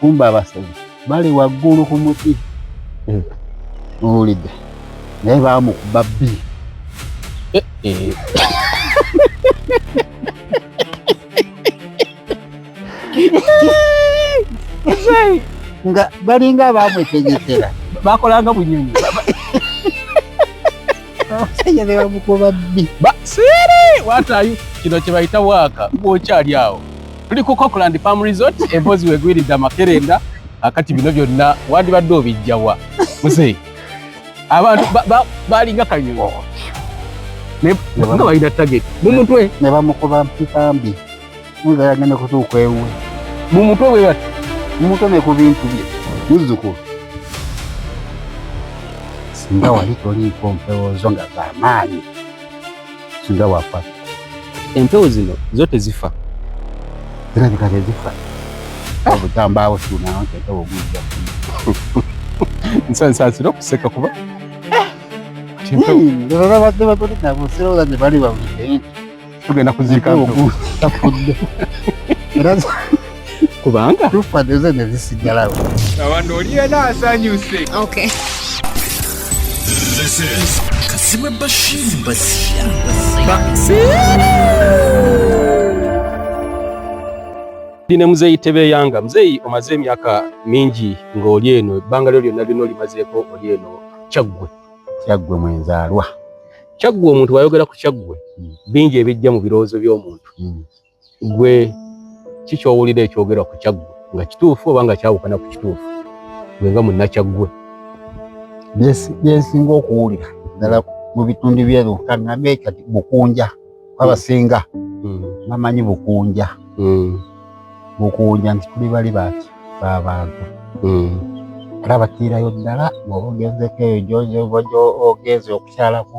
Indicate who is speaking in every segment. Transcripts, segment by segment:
Speaker 1: kumba abasawo bali waggulu ku muti eh. owulidde naye bamukuba bbi eh, eh. nga balinga bamwetegekera bakolanga
Speaker 2: bunyonyi abasajja
Speaker 1: ne bamukuba bbi basere
Speaker 2: watayo kino kye bayita waaka ng'okyali awo tuli ku cockland palm resort emboozi wegwiridde amakerenda akati bino byonna wandibadde obijjawa muzeyi abantu balinga kanyuo nga balina target mumutwe ne bamukuba
Speaker 1: mpipambi nga yagenda kutuuka ewe mumutwe bwe
Speaker 2: bati mumutwe ne ku
Speaker 1: bintu bye muzzukulu singa wali toliiko mpewozo nga zamaanyi singa wafa empewo
Speaker 2: zino zo tezifa era
Speaker 1: zika tezifa obutambaawo tunawo nti empewo ogujja
Speaker 2: nsansaasira okuseka kuba
Speaker 1: tugenda
Speaker 2: kuziika
Speaker 1: era
Speaker 2: kubanga tufa deze
Speaker 1: nezisigalawo abantu oli
Speaker 3: yena asanyuse okay.
Speaker 4: This is
Speaker 5: Kasima Bashir Basia.
Speaker 2: Dine muzeyi tebe yanga muzeyi omaze emyaka mingi ng'oli eno ebbanga lyo lyonna lyonna olimazeeko oli eno kyaggwe kyaggwe
Speaker 1: mwenzaalwa kyaggwe
Speaker 2: omuntu wayogera ku kyaggwe hmm. bingi ebijja mu birowoozo by'omuntu hmm. gwe ki kyowulira ekyogerwa ku kyaggwe nga kituufu oba nga kyawukana ku kituufu gwe nga munnakyaggwe byensinga
Speaker 1: okuwulira ddala mu bitundu byeruka nabe kati bukunja abasinga hmm. bamanyi bukunja hmm. bukunja nti tuli bali baki babantu hmm. era batiirayo ddala bwoba ogenzeko eyo gyoba ogenze okukyalako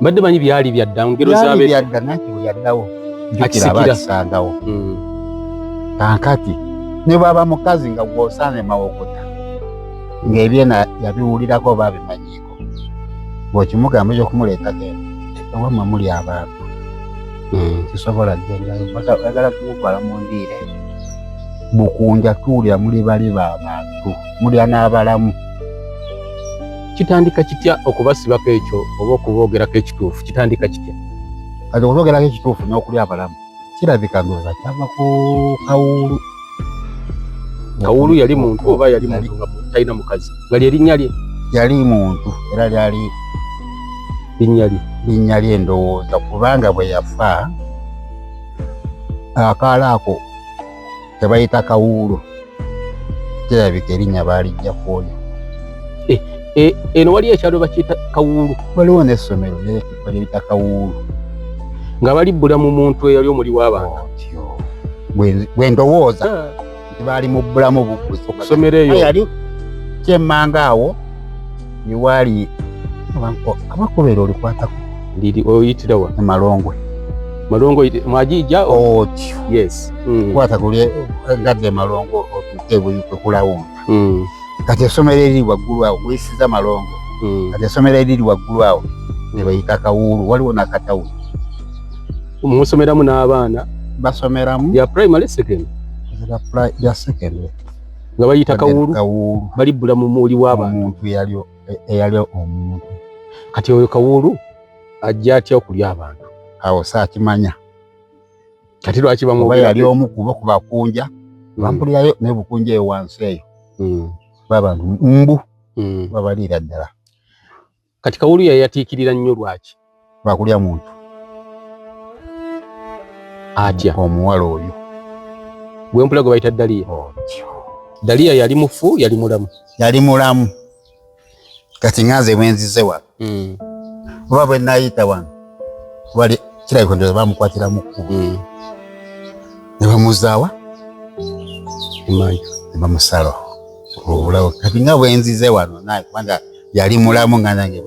Speaker 2: mbadde manyi byali byadda ngero zabe byadda nati byaddawo
Speaker 1: jukira abakisangawo mm. kankati ne baba mukazi nga gwosane mawokota ng'ebyena yabiwulirako oba abimanyiiko bw'okimugamba ekyo okumuleeta genda ewamwe muli abantu hmm. kisobola gendaagala kumutwala mu ndiire bukunja tuwulira muli bali ba bantu mulya n'abalamu kitandika
Speaker 2: kitya okubasibako ekyo oba okuboogerako ekituufu kitandika kitya kati okuboogerako
Speaker 1: ekituufu n'okuli abalamu kirabika ndoza kyava ku kawuulu
Speaker 2: kawuulu yali muntu oba yali muntu nga talina mukazi nga lyerinnya lye yali muntu
Speaker 1: era lyali linnya lye linnya lye ndowooza kubanga bwe yafa akaala ako kebayita kawuulo kirabika erinnya baalijja ku oyo eh,
Speaker 2: eh, eno wali ekyalo bakiyita kawuulu waliwo n'essomero
Speaker 1: baliyita kawuulu nga
Speaker 2: balibbula mu muntu eyali omuli w'abantu oh,
Speaker 1: bwe ndowooza ah. nti baali mu bbulamu bukuzi okusomero eyo yali kyemmanga awo iwali abanko abakubera olikwatako ndiri oyitira
Speaker 2: wa emalongwe
Speaker 1: malongo
Speaker 2: mwajija okyo oh, yes mm. kwata kulye
Speaker 1: ngadde emalongo otuke buyuke kulawonga mm. kati esomero eriri waggulu awo kuyisiza malongo mm. kati esomero eriri waggulu awo nebayita kawuulu waliwo nakatawuni
Speaker 2: musomeramu n'abaana basomeramu ya
Speaker 1: primary second
Speaker 2: ya secondary nga bayita kawuulu balibbula mu muuli w'abantu eyali e,
Speaker 1: omuntu kati oyo
Speaker 2: kawuulu ajja atya okulya abantu awo saakimanya kati lwaki bamuba yali omu kuba
Speaker 1: ku bakunja hmm. bampulirayo naye bukunja eyo wansi eyo hmm. babantu mbu hmm. babaliira ddala Kati
Speaker 2: kawulu yayatiikirira nnyo lwaki? Lwakulya muntu atya omuwala oyo gwempula gwe bayita Daliya. Oh, Daliya yali mufu yali mulamu? Yali mulamu.
Speaker 1: Kati nganze bwenzize wano hmm. oba bwe nayita wano wali kirabika ndoza bamukwatira mu kkubo hmm. ne bamuzaawa
Speaker 2: emanju ne
Speaker 1: bamusalawo obulawo kati nga bwenzize wano naye kubanga yali mulamu nga nange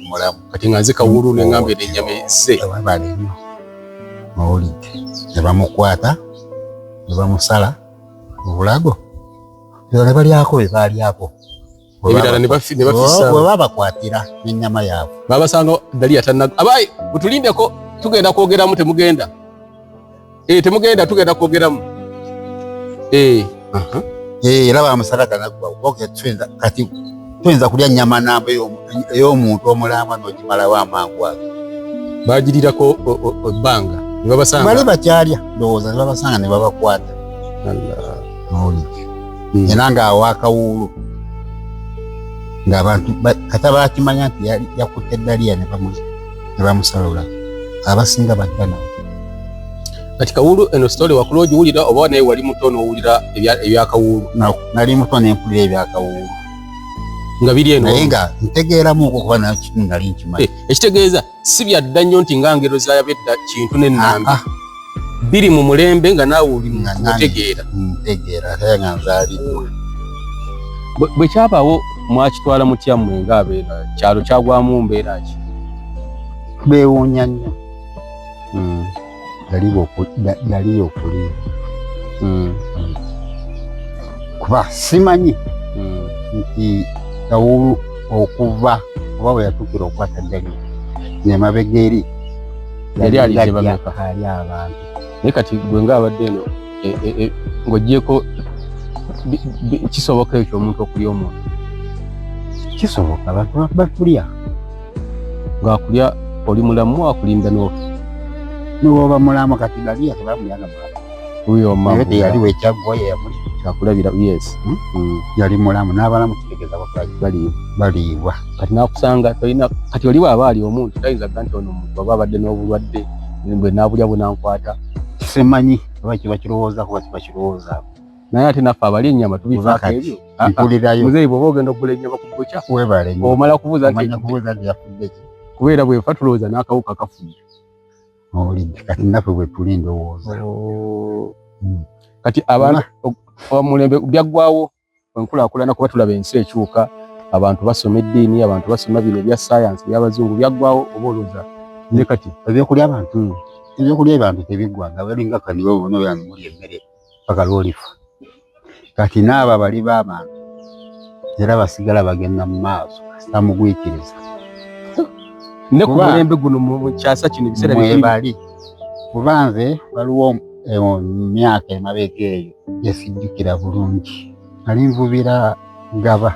Speaker 1: mulamu kati nga nze kawulu
Speaker 2: ne ngamba eno ennyama ezze abali
Speaker 1: nnyo mawulidde ne bamukwata ne bamusala obulago ebyo ne balyako bye baalyako ebirala
Speaker 2: ne babakwatira
Speaker 1: n'ennyama yaabwe babasanga daliya
Speaker 2: tanna abaye mutulindeko tugenda kwogeramu temugenda Eh, temugenda tugenda kwogeramu. Eh,
Speaker 1: aha. Eh, laba amusala kana kwa. Okay, twenda kati. Twenda kulya nyama namba yo yo muntu omulamba no kimala wa mangwa. Bajirira
Speaker 2: ko banga. Ni baba sanga. Bali bacharya.
Speaker 1: Doza baba sanga ni baba kwata. Allah. Mauli. Hmm. Enanga awaka wulu. Ngabantu kata bakimanya nti yakutte daliya ne bamuzi. ne bamusalula abasinga badda nawe
Speaker 2: kati kawuulu eno sitole wakula ogiwulira oba naye wali muto n'owulira ebyakawuulu nali muto
Speaker 1: nempulira ebyakawuulu nga
Speaker 2: biri eno naye nga ntegeeramuuko
Speaker 1: kuba nakimu nali nkimanyi eh, ekitegeeza si
Speaker 2: byadda nnyo nti nga ngero zayabedda kintu n'ennambi ah, ah. biri mu mulembe nga naawe oli mutegeera ntegeera ate
Speaker 1: nga nzaaliddwa
Speaker 2: bwe kyabaawo mwakitwala mutya mmwe ngaabeera kyalo kyagwamu mbeera ki
Speaker 1: beewuunya nnyo hmm. yaliyo okuliira hmm. hmm. kuba simanyi nti kawulu okuva oba bwe yatuukira okukwata ddali nemabega eri yali ali
Speaker 2: gye bameka ali abantu
Speaker 1: naye kati gwe
Speaker 2: nga abadde eno e, e, e, ng'ogyeko kisoboka ekyo omuntu okulya omuntu
Speaker 1: kisoboka abantu bakulya
Speaker 2: ng'akulya oli mulamu akulinda n'ofa niwoba
Speaker 1: mulamu kati galiya tebamuyaga mulamu huyo mama yote
Speaker 2: yaliwe
Speaker 1: chagwa ya muli chakula bila yes
Speaker 2: hmm? mm. yali mulamu
Speaker 1: nabala mutegeza bakwaji bali bali wa kati nakusanga
Speaker 2: toyina kati oliwa abali omuntu tayinza kanti ono omuntu baba abadde n'obulwadde bwe nabulya bunankwata simanyi
Speaker 1: oba kiba kirowooza kuba kiba kirowooza naye ate naffe
Speaker 2: abali ennyama tubifaako ebyo ah, ah. muzeeyi
Speaker 1: bwoba ogenda okugula
Speaker 2: ennyama ku bukya omala
Speaker 1: kubuuza
Speaker 2: nti
Speaker 1: kubeera bwefa tulowooza
Speaker 2: n'akawuka kafudde oli
Speaker 1: kati naffe bwetuli ndowooza oh. hmm.
Speaker 2: kati abaana omulembe byaggwawo enkulaakulana kuba tulaba ensi ekyuka abantu basoma eddiini abantu basoma bino ebya sayansi byabazungu byaggwawo oba olowooza ne kati ebyokulya abantu
Speaker 1: ebyokulya abantu tebiggwanga balinga kanibo bona oyo animuli emmere paka lwolifa kati naabo abali b'abantu era basigala bagenda mu maaso kasita mugwikiriza
Speaker 2: ne ku mulembe guno mu kyasa kino ebiseera bibali
Speaker 1: kuba nze waliwo eh, myaka emabega eyo gyesijjukira bulungi nali nvubira gaba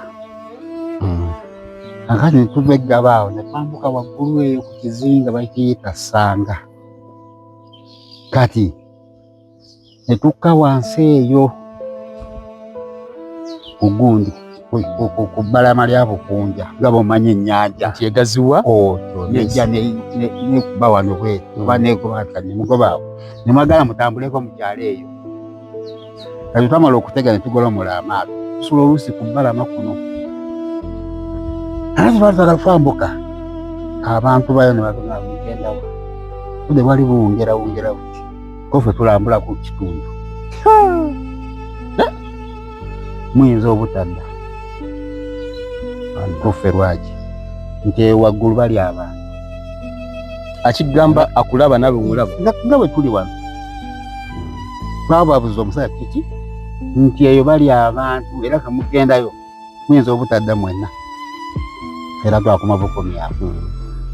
Speaker 1: hmm. akati netuva eggaba awo netwambuka waggulu eyo ku kizinga bakiyita sanga kati ne tukka wansi eyo ku gundi ku bbalama lya Bukunja nga bw'omanyi ennyanja nti egaziwa
Speaker 2: oyo nejja
Speaker 1: nekuba wano bweru mm. oba negoba nti kati nemugobaawo ne mwagala mutambuleko mu kyalo eyo kati twamala okutega ne tugolomola amaato tusula oluusi ku bbalama kuno ate twali twagala twambuka abantu bayo ne bagenda mugendawo budde bwali buwungerawungerawo kofe tulambula ku kitundu eh? muyinza obutadda kofe lwaki nti ewaggulu bali abantu akigamba
Speaker 2: akulaba nawe omulaba nga bwe tuli wano
Speaker 1: twababuza omusajja kiki nti eyo bali abantu era kemugendayo muyinza obutadda mwenna era twakoma bukomyaku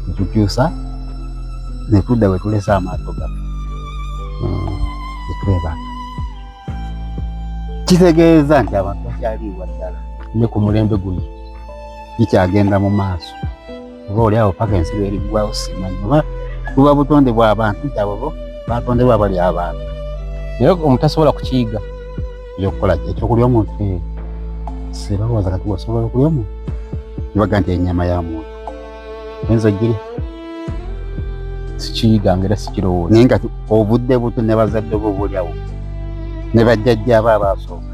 Speaker 1: netukyusa netudda wetulese amaato gaffe hmm, netwebaka kitegeeza nti abantu bakyaliibwa ddala ne ku mulembe
Speaker 2: guno bikyagenda
Speaker 1: mu maaso oba oli awo paka ensi lweriggwawo simanyi oba buba butonde bw'abantu nti abo bo batondebwa bali abantu naye
Speaker 2: omutasobola kukiyiga ekyokukola
Speaker 1: ekyokulya omuntu eh, sibawooza kati osobola okulya omuntu ibaga nti enyama ya muntu oyinza ogirya sikiyiga
Speaker 2: nga era sikirowooza naye nga obudde
Speaker 1: buto ne bazadde bo bulyawo ne bajjajja abo abaasooka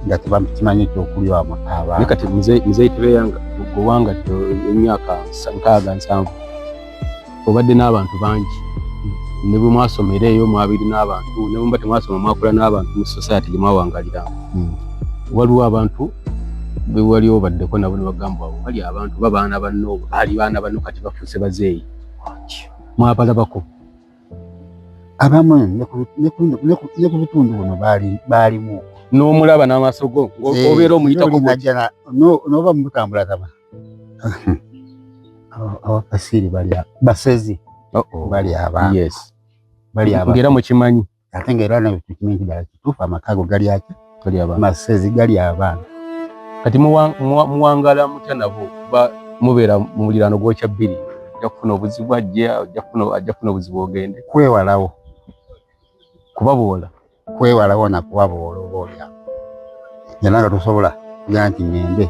Speaker 1: nga tebakimanyi ekyokulya wamwe abaana kati muzeeyi
Speaker 2: tebeyanga gwewanga emyaka nkaaga nsanvu obadde n'abantu bangi ne bwe mwasomera eyo mwabiri n'abantu ne bwemuba temwasoma mwakula n'abantu mu society gye mwawangalira hmm. waliwo abantu bewali obaddeko nabo ne bagamba awo bali abantu babaana banno baali baana banno kati bafuuse bazeeyi mwabalabako
Speaker 1: abamu ne ku bitundu buno baalimu n'omulaba
Speaker 2: n'amaaso go eh, obeera omuyitako n'oba
Speaker 1: mutambula taba abafasiiri bali basezi bali abaana bali abaana
Speaker 2: ngera mukimanyi ate ng'era nawe
Speaker 1: tukimanyi nti ddala kituufu amaka ago gali ati masezi gali abaana kati
Speaker 2: muwangala mutya nabo kuba mubeera mu muliraano gwokya bbiri ajja kufuna obuzibu ajja kufuna obuzibu ogende kwewalawo
Speaker 1: kubaboola
Speaker 2: kwewalawo nakubaboola
Speaker 1: obaolya nze nanga tosobola kuya nti ngende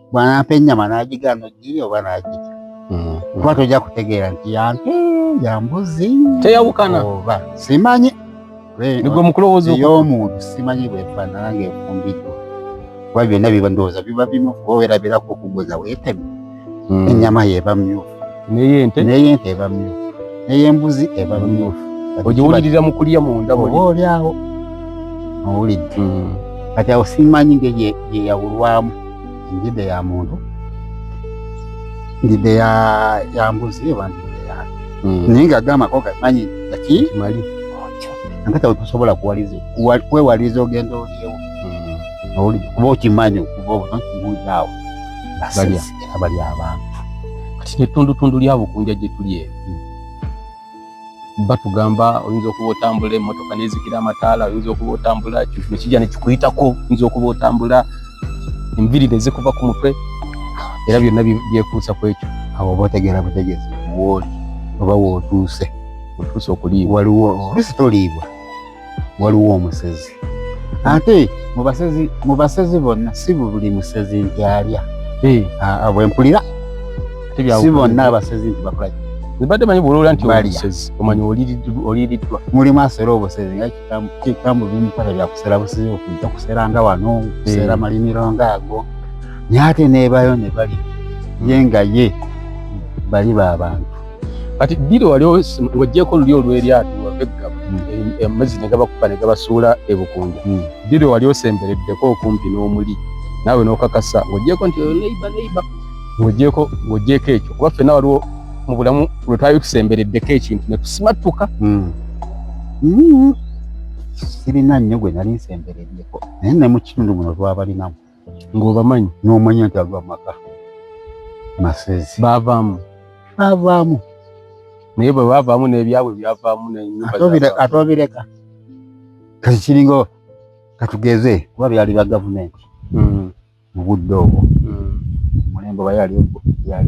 Speaker 1: bwanampa ennyama n'agigaana ogirya oba n'agirya mm-hmm. kuba tojja kutegeera nti yante yambuzi teyawukana
Speaker 2: oba simanyi
Speaker 1: nigwe
Speaker 2: mukulowooza ey'omuntu simanyi
Speaker 1: bwefaanana ng'efumbiddwa kuba byonna biba ndowooza biba bimu kuba werabirako okuguza weeteme mm. ennyama yeeba myufu neyente neyente eba myufu neyembuzi eba myufu ogiwulirira mu
Speaker 2: kulya munda oba olyawo
Speaker 1: owulidde mm. kati awo simanyi ngeyeyawulwamu ndidde ya muntu ndidde ya ya mbuzi oba ndidde ya hmm. naye nga agamako gamanyi gaki mali
Speaker 2: nakati
Speaker 1: awo tosobola kwewaliza ogenda olyewo hmm. kuba okimanyi okuva obuto nkibuuza awo era bali abantu kati
Speaker 2: netundutundu lyabukunja gyetuli eyo hmm. batugamba oyinza okuba otambula emotoka nezikira amataala oyinza okuba otambula kintu nekijja nekikuyitako oyinza okuba otambula enviri nezikuva ku mutwe era byonna byekuusa ku ekyo awo oba otegeera
Speaker 1: butegeezi wooli oba wootuuse otuuse okuliibwa
Speaker 2: waliwo olusi
Speaker 1: toliibwa waliwo omusezi ate mubasezi mubasezi bonna si buli musezi nti alya eh. bwempulira si bonna abasezi nti bakola ebadde manyi bwolowoola
Speaker 2: nti omusezi omanyi oliiriddwa mulimu asera
Speaker 1: obusezi nga kikambu bimukwata byakusera busezi okujja kusera nga wano kusera eh. malimiro nga ago naye ate nebayo ne bali ye nga ye bali ba bantu kati ddiri
Speaker 2: wali ng'ogyeko oluli olw'eryato wave eggaba hmm. e, amazzi ne gabakuba ne gabasuula ebukunja hmm. ddiri wali osembereddeko okumpi n'omuli naawe n'okakasa ng'ogyeko nti neiba neiba ng'ogyeko ng'ogyeko ekyo kuba ffenna waliwo mu bulamu lwe twali tusembereddeko ekintu ne tusimattuka hmm.
Speaker 1: sirina nnyo gwe nali nsembereddeko naye ne mu kitundu muno twabalinamu ng'obamanyi
Speaker 2: n'omanya nti ago
Speaker 1: amaka masezi baavaamu
Speaker 2: baavaamu naye bwe baavaamu n'ebyabwe byavaamu atobireka
Speaker 1: kati kiringa katugeze kuba byali bya gavumenti hmm. mu budde obwo hmm. omulembe oba yali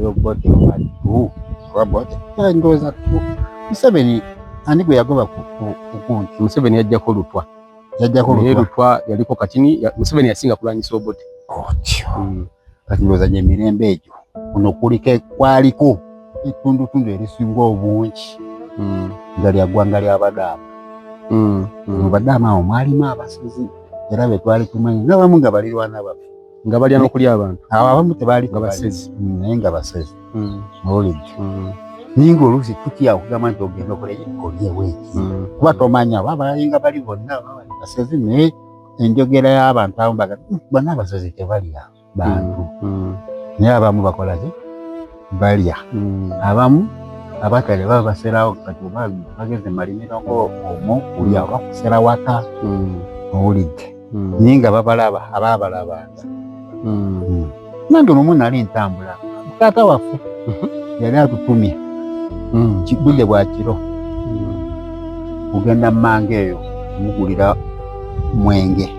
Speaker 1: obote obadduobaboteoza museveni ani gwe yagoba ku kunti museveni yajjako
Speaker 2: lutwa yajjako lutwa lutwa yaliko katini ya, Museveni yasinga kulwanyisa Obote otyo oh, mm.
Speaker 1: kati loza je mirembe ejo ono kulike kwaliko etundu tundu erisinga obungi mm. nga lya gwanga lya badama mm. mm. badama omwalimu abasizi era betwali tumanyi nabamu nga balirwana bafe nga balya nokulya
Speaker 2: abantu abo abamu tebaali nga
Speaker 1: basezi mm, naye
Speaker 2: nga basezi
Speaker 1: mm. mawulidde mm. naye nga oluusi tutya okugamba nti ogenda okolyeweeki kuba tomanya oba balinga bali bonna basezi naye enjogera y'abantu abamu baga bonna abasezi tebalya bantu naye abamu bakolaki balya abamu abatale baba baserawo kati oba bageze malimiro ngaomu kulya oba kusera waka owulidde hmm. naye nga babalaba abaabalabanga hmm. hmm. nange nomu nali ntambula taata waffe mhm. yali atutumye budde bwa kiro kugenda mumanga eyo omugulira mwenge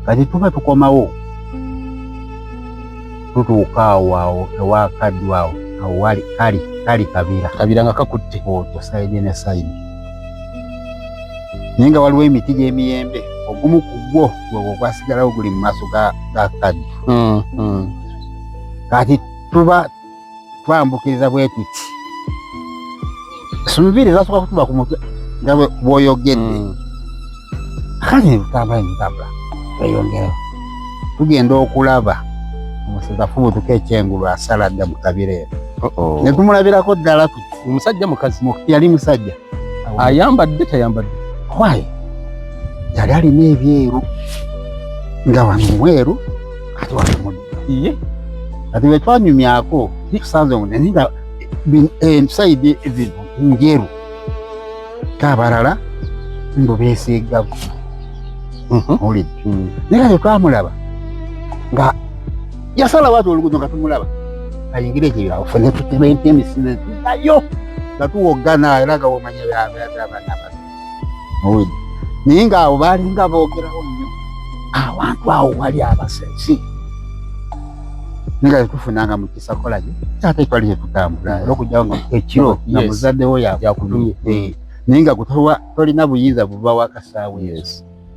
Speaker 1: kati tuba tukomawo tutuuka awo awo ewakaddu awo awo wali kali kali kabira kabira nga kakutte otyo
Speaker 2: sayidi ne
Speaker 1: sayidi naye nga waliwo emiti gy'emiyembe ogumu ku gwo gwegwo gwasigalawo guli mu maaso ga kaddu hmm, hmm. kati tuba twambukiriza bwe tuti sumubiri zasooka kutuba ku mutwe nga bwoyogedde hmm. kati nebutambula nebutambula tweyongerawo tugenda okulaba omusezi afubutuka ekyengulu asala dda mu kabira eno netumulabirako ddala omusajja mukazi
Speaker 2: yali musajja
Speaker 1: ayambadde
Speaker 2: tayambadde kwaye
Speaker 1: yali alina ebyeru nga wano mweru ati wakamudi iye
Speaker 2: ati
Speaker 1: wetwanyumyako tusanze munene nga ensaidi eh, zino njeru kabalala mbu besiigaku mhm. olidde mm. naye kati twamulaba nga yasala watu olugudo nga tumulaba ayingire ekyo yafune tutementa emisinde nayo nga tuwoggana era nga womanya abaana bano muwulide naye ng'awo baalinga boogerawo nnyo awantu awo wali abasensi nga tetufunanga mu kisakola gye ate twali tetutambula era okujjawo nga ekiro nga muzaddewo yakutumye eh. naye nga tolina buyinza buva wakasaawe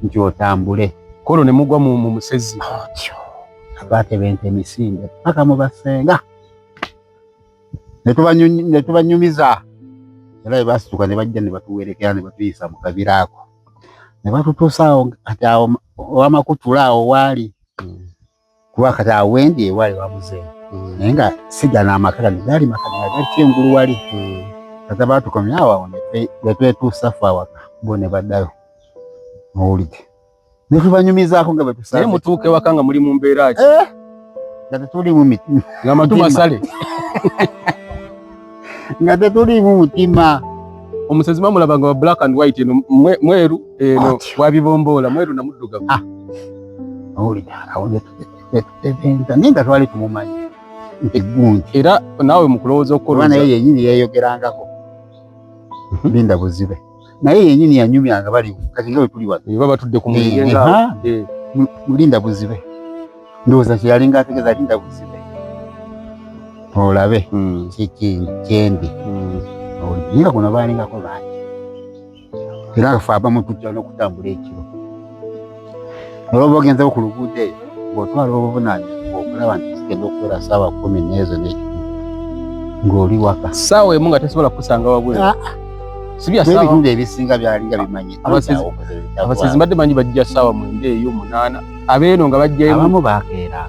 Speaker 1: nti otambule kono ne mugwa
Speaker 2: mu musezi
Speaker 1: abaatebenta emisinde paka mu basenga ne tubanyumiza era bwe baasituka ne bajja ne batuwerekera ne batuyisa mu kabira ako ne batutuusa awo kati awo owamakutula awo waali hmm. kuba kati awo wendi ewaali wamuzeeyi hmm. naye nga siga n'amaka gano gaali maka gali kyengulu wali hmm. kati abaatukomya awo awo ne twetuusa fe awaka bo ne baddayo mawulide ne tubanyumizaako nga bwe tusaze. Naye mutuuka ewaka nga muli
Speaker 2: mu mbeera ki? Eh? Nga tetuli
Speaker 1: mu mitima. Nga matu masale. Nga tetuli mu mutima. Omusezi
Speaker 2: mamulaba nga wa black and white eno mweru eno wabibomboola mweru na muddugavu. Ah.
Speaker 1: Owulira awo ne tuteteteteteeta naye nga twali tumumanyi nti gundi. Era naawe mu
Speaker 2: kulowooza okukolooza. Kuba naye yennyini yeeyogerangako.
Speaker 1: Mhm. Linda buzibe. naye yenyini yanyumya nga bali kati nga wetuli wano baba batudde ku muyingo nga eh.
Speaker 2: mulinda
Speaker 1: buzibe ndowooza kyeyali nga ategeza linda buzibe olabe hmm. kyendi hmm. naye nga kuno baalingako bangi era afa abamu tujja n'okutambula ekiro Nolwoba ogenze ku luguudo eyo ng'otwala obuvunaanyizibwa okulaba nti zigenda okubeera saawa kumi n'ezo n'ekimu ng'oli waka saawa emu nga tesobola
Speaker 2: kukusanga wabweru ah, ah. sibyabitundu ebisinga byalinga
Speaker 1: bimanyi abasezi
Speaker 2: mbadde manyi bajja saawa mwenda eyo munaana abeeno nga bajjayo abamu bakeera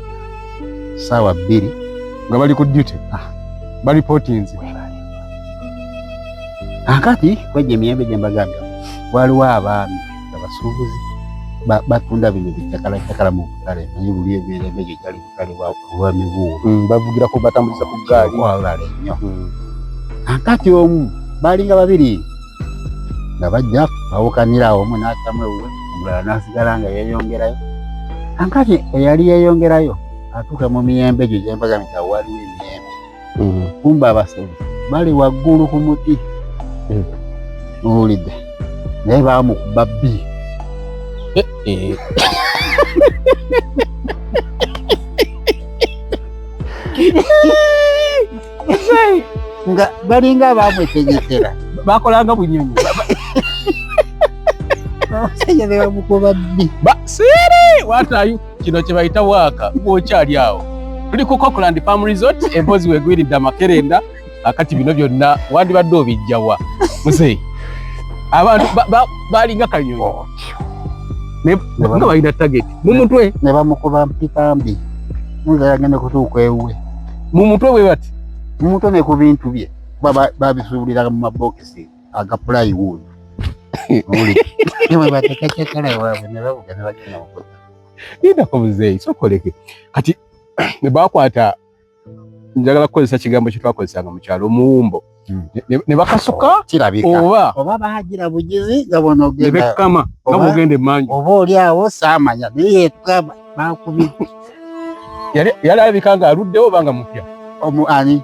Speaker 1: saawa bbiri nga bali ku
Speaker 2: duty ah. balipotinze
Speaker 1: akati kwegyo emiyembe gye mbagambya waliwo abaami abasuubuzi batunda bino bitakala takala mu butale naye buli ebeera emejo gyali butale bwa mibuulo hmm, bavugira ku batambuliza
Speaker 2: ku gaali wawulale nnyo
Speaker 1: hmm. akati omu baalinga babiri nga bajja bawukanira omu n'atamu ewuwe omulala n'asigala nga yeeyongerayo ankati eyali yeeyongerayo atuuka mu miyembe egyo gyembaga nti awaliwo emiyembe mm. kumba abasezi bali waggulu ku muti mm. owulidde naye bamukuba bbi eh, eh. nga balinga abamwetegekera bakolanga
Speaker 2: bunyonyi abasajja
Speaker 1: bebamukuba bbi basiri
Speaker 2: watayu kino kye bayita waaka ng'okyali awo tuli ku cockland farm resort empozi wegwiridde amakerenda akati bino byonna wandibadde obijjawa muzeyi abantu balinga kanyonyi oh, nga balina target mu mutwe ne bamukuba
Speaker 1: mpitambi nga yagenda kutuuka ewuwe mu mutwe bwe
Speaker 2: bati mu mutwe ne ku
Speaker 1: bintu bye babisuubuliraga mu mabokisi aga plywood muli ewe batekacakala ewaabwe ne babuga ne bagenda mukuta yindako
Speaker 2: muzeeyi sokoleke kati ne bakwata njagala kukozesa kigambo kye twakozesanga mu kyalo omuwumbo hmm. ne bakasuka oh, kirabika oba oba bagira bugizi
Speaker 1: nga bonogenda ne bekkama nga
Speaker 2: bogenda emanju oba oli awo
Speaker 1: saamanya naye yekaba bakubidde
Speaker 2: yali alabika nga aluddewo oba nga mupya omu ani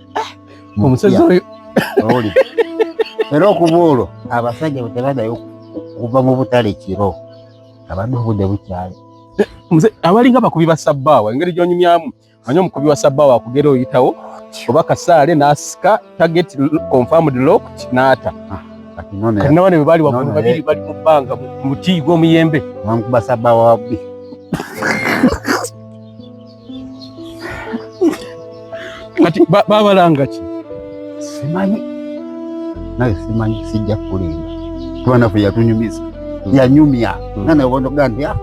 Speaker 1: eh,
Speaker 2: omusajja oyo oli
Speaker 1: era okuba olwo abasajja bwetebadayo okuva mu butale kiro abadde obudde bukyali abalinga
Speaker 2: bakubi ba sabbaawa engeri gyonyumyamu manyi omukubi wa sabbaawa akugera oyitawo oba kasaale n'asika target confirmed locked n'ata ah, kati nabane bwe baali waggulu babiri eh. bali mu bbanga mu muti gw'omuyembe bamukuba sabbaawa
Speaker 1: wabbi
Speaker 2: kati babalanga ki simanyi
Speaker 1: naye simanyi sijja kulinda tubanafu yatunyumiza hmm. yanyumya hmm. nana ogondoga nti ah,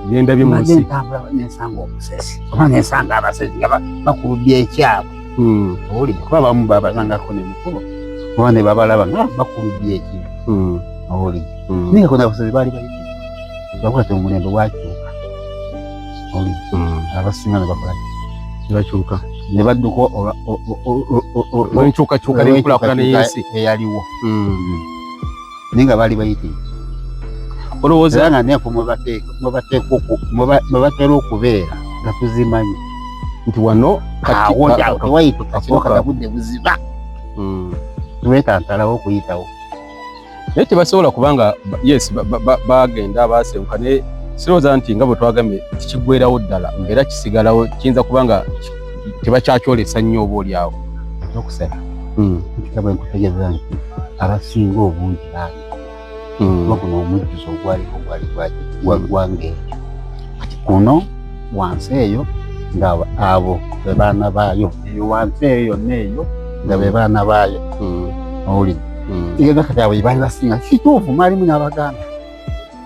Speaker 1: byendabye
Speaker 2: munsi ntambula nensanga
Speaker 1: omusesi oba nensanga abasezi nga bakulubya ekyabwe hmm. oli kuba bamu babazangako ne mukulu oba ne babalaba nga ah, bakulubya ekibi oli naye kona abasezi baali bayi bakwata omulembe wakyuka hmm. abasinga ne bakola ne bakyuka
Speaker 2: ne badduka
Speaker 1: olwenkyukakyuka
Speaker 2: nenkulakulana yensi eyaliwo
Speaker 1: hmm. naye nga baali bayite
Speaker 2: olowooza nga neeko
Speaker 1: mwebatera okubeera nga tuzimanyi nti wano
Speaker 2: katiwayitekakiwakatagudde
Speaker 1: buziba hmm. twetantalawo okuyitawo naye
Speaker 2: tebasobola kubanga yes bagenda basenguka naye sirowooza nti nga bwe twagambye tikigwerawo ddala mbeera kisigalawo kiyinza kuba nga tebakyakyolesa nnyo oba olyawo nokusala
Speaker 1: hmm. nkitabwe nkutegeeza nti abasinga obungi bangi hmm. kuba guno omujjuzo ogwaliko gwali gwagwanga ekyo kati kuno wansi eyo nga abo bebaana baayo eyo wansi eyo yonna eyo nga bebaana baayo hmm. owulidde mm. igenda kati abo ibali basinga kituufu mwalimu n'abaganda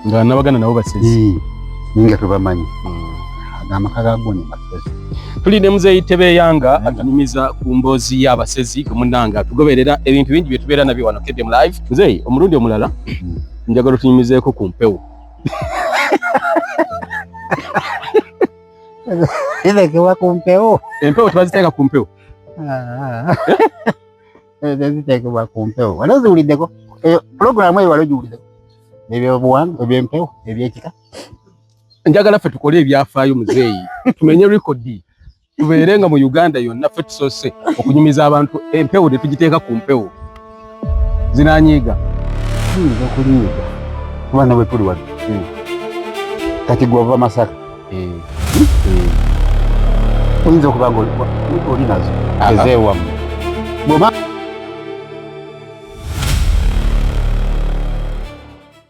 Speaker 1: nga
Speaker 2: n'abaganda nabo basezi ninga tubamanyi
Speaker 1: mm. amaka gagoni basezi tuli ne muzeeyi
Speaker 2: tebeyanga atunyumiza ku mboozi y'abasezi gwe munnanga tugoberera ebintu bingi bye tubeera nabyo wano kedem live muzeeyi omulundi omulala mm. njagala otunyumizeeko ku mpewo
Speaker 1: Ese que va con peo. En peo te vas a estar con
Speaker 2: peo. Ah.
Speaker 1: eziteekebwa ku mpewo wali oziwuliddeko eh, pulogulaamu eyo wali ogiwuliddeko ebyobuwanga ebyempewo ebyekika
Speaker 2: njagala ffe tukole ebyafaayo muzeeyi tumenye rekodi tubeere nga mu uganda yonna ffe tusoose okunyumiza abantu empewo tetugiteeka ku mpewo zinanyiiga
Speaker 1: tuyinza okuliyiga kuba nabwe tuli wali hmm. kati gwova masaka eh, eh. oyinza okuba nga oli nazo ezeewamu bwoba